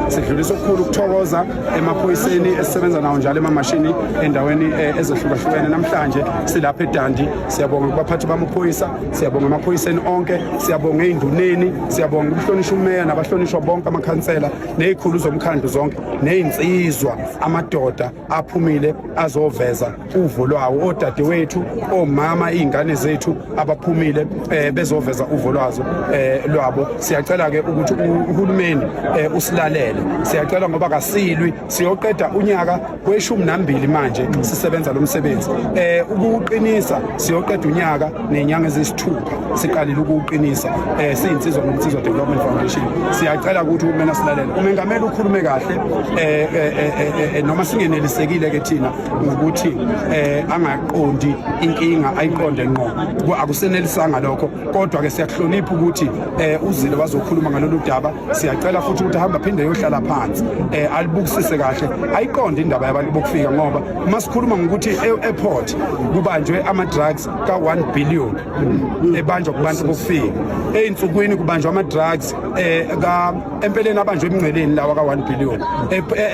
Sidlulisa okukhulu ukuthokoza emaphoyiseni esisebenza nawo njalo emamashini endaweni eh, ezehlukahlukene namhlanje silapha eDandi siyabonga kubaphathi bamaphoyisa siyabonga emaphoyiseni onke siyabonga einduneni siyabonga ukuhlonishwa umeya nabahlonishwa bonke amakhansela nezikhulu zomkhandlu zonke nezinsizwa amadoda aphumile azoveza uvo lwawo odadewethu omama izingane zethu abaphumile eh, bezoveza uvo lwazo eh, lwabo siyacela ke ukuthi uhulumeni eh, usilalele siyacela ngoba kasilwi siyoqeda unyaka kweshumi nambili manje sisebenza lo msebenzi eh ukuqinisa siyoqeda unyaka nenyanga ezis Two, siqalile ukuwuqinisa um siyinsizwa noMnsizwa Development Foundation siyacela ukuthi uhulumeni asilalele umengameli ukhulume kahle um noma singenelisekile-ke thina ngokuthi um angaqondi inkinga ayiqonde ngqo akusenelisanga lokho kodwa-ke siyakuhlonipha ukuthi um uzile wazokhuluma ngalolu daba siyacela futhi ukuthi ahambe aphinde yohlala phansi um alibukisise kahle ayiqonde indaba yabantu bokufika ngoba uma sikhuluma ngokuthi e-airport kubanjwe ama-drugs ka-1 billion ebanjwa kubantu bokufika ey'nsukwini kubanjwa ama-drugs um empeleni abanjwa emngceleni lawa ka-1 billion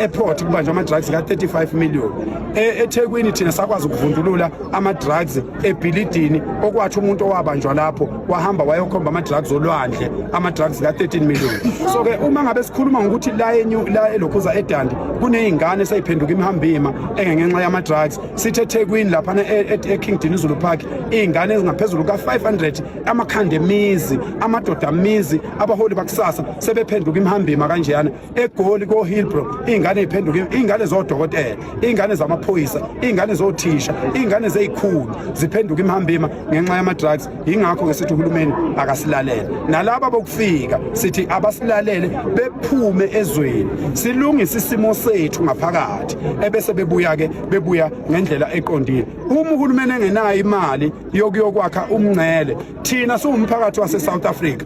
eport kubanjwa ama-drugs ka-35 million e, ethekwini thina sakwazi ukuvundulula ama-drugs ebhilidini okwathi umuntu owabanjwa lapho wahamba wayokhomba ama-drugs olwandle ama-drugs ka-13 million so-ke uma ngabe sikhuluma ngokuthi la elokhuza edandi kuney'ngane seyiphenduka imihambima engengenxa yama-drugs sithi ethekwini laphana e, e, eking dinizulu park iy'ngane ezingaphezulu ka-500 amakhanda emizi amadoda amizi abaholi bakusasa sebephenduka imhambima kanjeyana egoli kohilbro iy'ngane y'phenduke iy'ngane zodokotela iy'ngane zamaphoyisa iy'ngane zothisha iy'ngane zeyikhulu ziphenduka imhambima ngenxa yama-drugs yingakho ke sithi uhulumeni akasilalele nalaba bokufika sithi abasilalele bephume ezweni silungise isimo sethu ngaphakathi ebese bebuya ke bebuya ngendlela eqondile uma uhulumeni engenayo imali yokuyokwakha umngcele thina siwumphakathi wase South Africa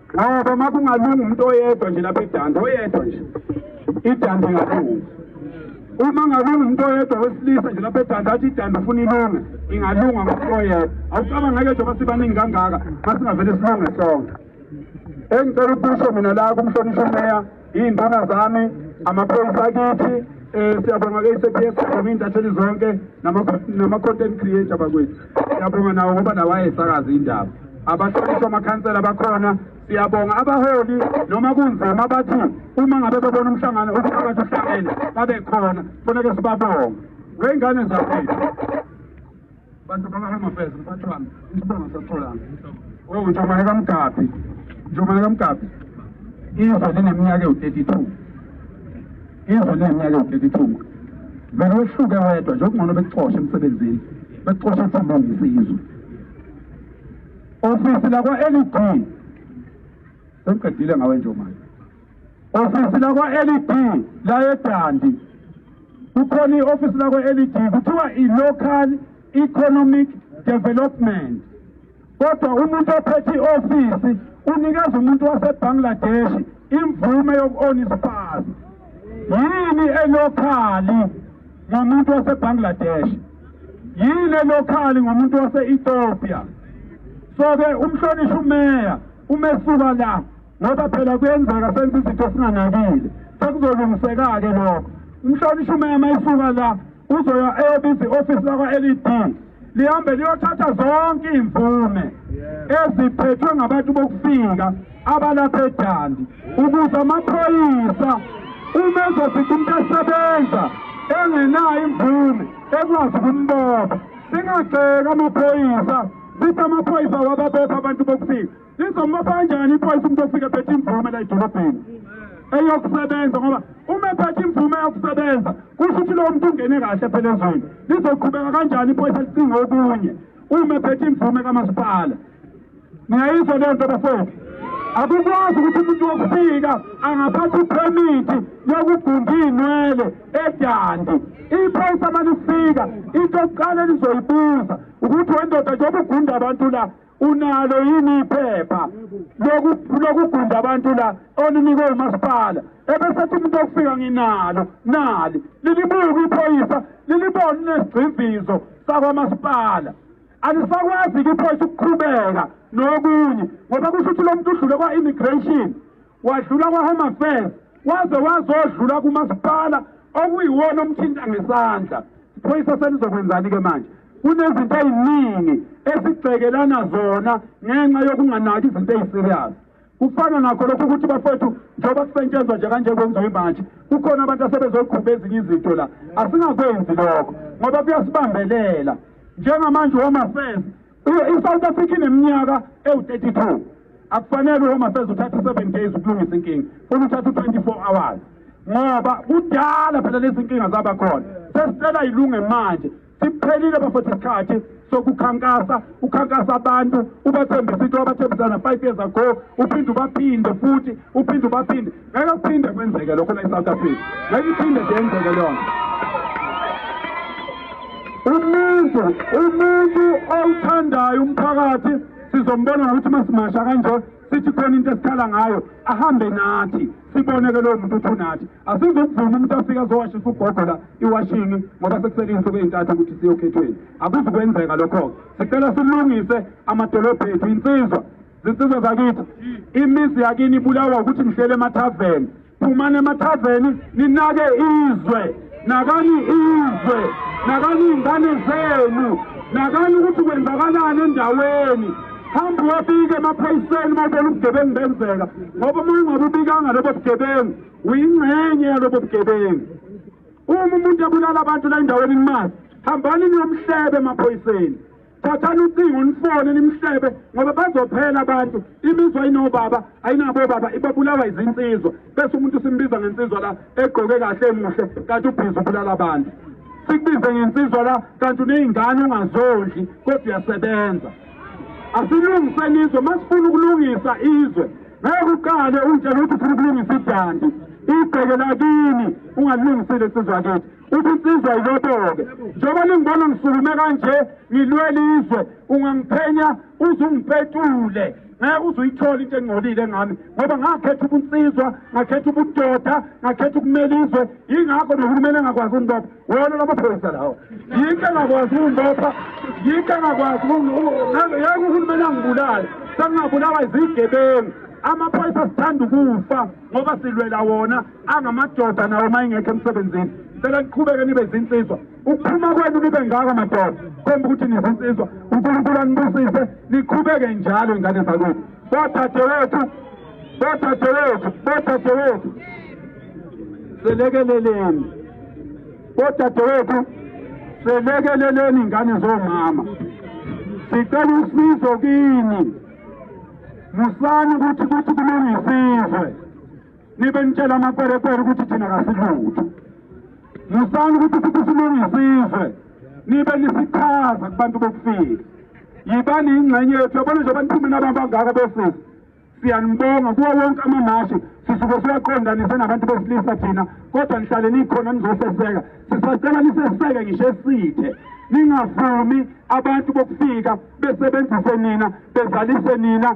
ngoba uma kungalunga umuntu oyedwa nje lapha edanda oyedwa nje idanda ingalunga uma ngalunga umuntu oyedwa wesilisa nje lapha edanda athi idanda ufuna ilunga ingalunga ngomuntu oyedwa awucabanga ngeke njengoba sibaningi kangaka uma singavele silunge sonke engicela ukusho mina la kumhlonishwa umeya Iy'ntanga zami amaphoyisa akithi um siyabonga ke i-cps siyabonga iy'ntatheli zonke nama-content creator bakwethu siyabonga nawo ngoba nawo ayesakaza iy'ndaba abahlonishwa amakhansela bakhona siyabonga abaholi noma kunzima bathi uma ngabe bebona umhlangano umphakathi uhlangene babe khona kufuneke sibabonge wey'ngane zakwethu bantu bakahome affairs mphathi wami isibongo sasitholanga o ntombane kamgabhi ntombane kamgabhi izwe lineminyaka ewu-thirty two izwe lineminyaka ewu-thirty two vele wehluke wedwa nje okungcono bekuxoshe emsebenzini bekuxoshe uthambongisa izwe ofisi lakwa-led sengiqedile ngawe nje manje Ofisi lakwa-LED layeDandi. Kukhona i-ofisi lakwa-LED kuthiwa i-Local Economic Development. Kodwa umuntu ophethe i-ofisi unikeza umuntu waseBangladesh imvume yoku-ona isipazi. Yini elokhali ngomuntu waseBangladesh? Yini elokhali ngomuntu wase-Ethiopia? So-ke umhlonishwa umeya umesuka la ngoba phela kuyenzeka senze izinto singanakile sekuzolungiseka-ke lokho umhlonishwa umema isuka la uzoya eyobisa i-ofisi lakwa-l e d lihambe liyothatha zonke iy'mvume eziphethwe ngabantu bokufika abalapha edandi ukuze amaphoyisa uma ezofica umuntu esebenza engenayo imvume ekwazi ukumbopha singagxeki amaphoyisa sithi amaphoyisa wababopha abantu bokufika Izomupha kanjani iphoyisa umuntu ofike ephethe imvume la edolobheni eyokusebenza ngoba uma ephethe imvume yokusebenza kusho ukuthi lowo muntu ungene kahle phela ezweni lizoqhubeka kanjani iphoyisa licinga okunye uma ephethe imvume kamasipala niyayizwa leyo nto bafowethu akukwazi ukuthi umuntu wokufika angaphatha iphemithi yokugunda iy'nwele edandi iphoyisa uma lifika into yokuqala elizoyibuza ukuthi wendoda njengoba ugunda abantu la unalo yini iphepha lokugunda abantu la olinikwe umasipala ebesethi umuntu okufika nginalo nali lilibuka iphoyisa lilibona unesigcimvizo sakwamasipala alisakwazi-ke iphoyisa ukuqhubeka nokunye ngoba kusho ukuthi lo muntu udlule kwa-immigration wadlula kwa-home affairs waze wazodlula kumasipala okuyiwona omthinta ngesandla iphoyisa selizokwenzani-ke manje kunezinto eziningi esibhekelana zona ngenxa yokunganaki izinto eziserious kufana nakho lokho ukuthi bafethu njengoba kusetshenzwa nje kanje kwenziwa imanje kukhona abantu asebezoqhuba ezinye izinto la asingakwenzi lokho ngoba kuyasibambelela njengamanje home affairs I-South Africa ineminyaka ewu-32 akufanele uhoma seze uthatha i-seven days ukulungisa inkinga funa uthatha u-24 hours ngoba kudala phela lezi nkinga zaba khona sesicela yilunge manje siphelile bafethu isikhathi sokukhankasa ukhankasa abantu ubathembisa into abathembisana five years ago uphinde ubaphinde futhi uphinde ubaphinde ngeke kuphinde kwenzeke lokho la eSouth Africa ngeke iphinde nje yenzeke leyonto umuntu umuntu owuthandayo umphakathi sizombona ngokuthi masimasha kanje sithi khona into esikhala ngayo ahambe nathi siboneke lowo muntu uthi unathi asizokuvuma umuntu afike azowashisa ugogo la iwashini ngoba sekusele iy'nsuku ey'ntathu ukuthi siyokhethweni akuzukwenzeka lokho-ke sicela silungise amadolobho ethu insizwa zinsizwa zakithi imizi yakini ibulawa ukuthi nihlele emathaveni phumani emathaveni ninake izwe nakani izwe nakani iy'ngane zenu nakani ukuthi kwenzakalani endaweni hamba uyofika emaphoyiseni uma ubona ubugebengu benzeka ngoba uma ungabe ubikanga lobo bugebengu uyingxenye yalobo bugebengu uma umuntu ebulala abantu la endaweni nimazi hambani niyomhlebe emaphoyiseni thathani ucingo nifone nimhlebe ngoba bazophela abantu imizwa inobaba ayinabo baba ibabulawa izinsizwa bese umuntu simbiza ngensizwa la egqoke kahle emuhle kanti ubhizi ubulala abantu sikubize ngensizwa la kanti uney'ngane ungazondli kodwa uyasebenza asilungiseni izwe masifuna ukulungisa izwe ngeke uqale untshela ukuthi ufuna ukulungisa idandi ibheke lakini ungalungisile sizwa kithi ubunsizwa yiboboke njengoba lingibona ngisukume kanje ngilwela izwe ungangiphenya uze ungipetule ngeke uze uyithole into engcolile ngami ngoba ngakhetha ubunsizwa ngakhetha ubudoda ngakhetha ukumela izwe yingakho nohulumeni engakwazi ukungibopha wona lamaphoyisa lawo yinto engakwazi ukungibopha yinto engakwazi yeke uhulumeni angibulale sengingabulawa izigebengu amaphoyisa sithanda ukufa ngoba silwela wona angamadoda nawo uma ingekho emsebenzini sicela niqhubeke nibe zinsizwa ukuphuma kwenu nibe ngako madoda komba ukuthi nizinsizwa unkulunkulu anibusise niqhubeke njalo ingane zakwethu bodadewethu bodadewethu bodadewethu selekeleleni bodadewethu selekeleleni ingane zomama sicela usizo kini musani ukuthi kuthi kulungisizwe nibe nitshela amakwerekwere ukuthi thina kasilutho musani ukuthi sithi silungisa izwe nibe nisichaza kubantu bokufika yibani yingxenye yethu yabona nje baniphume nababangaka bosisi siyanibonga kuwo wonke amamashi sisuke siyaqondanise nabantu besilisa thina kodwa nihlale nikhona nizoseseka sisacela niseseke ngisho esithe ningavumi abantu bokufika besebenzise nina bezalise nina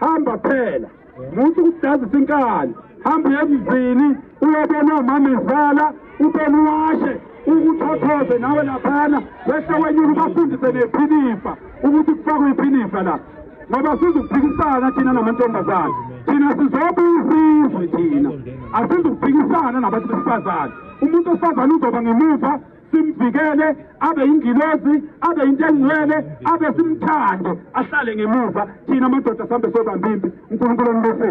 hamba phela muthi ukudazisa inkani hamba uye emzini uyobona omama izala ubone uwashe ukuthothoze nawe laphana bese wenyuka ubafundise nephinifa ukuthi kufakwe iphinifa la ngoba sizukuphikisana thina namantombazane thina sizobuyisizwe thina asizukuphikisana nabantu besifazane umuntu wesifazane uzoba ngemuva simvikele abe yingilozi abe yinto engcwele abe simthande ahlale ngemuva thina amadoda sambe sobambimbi unkulunkulu onibusise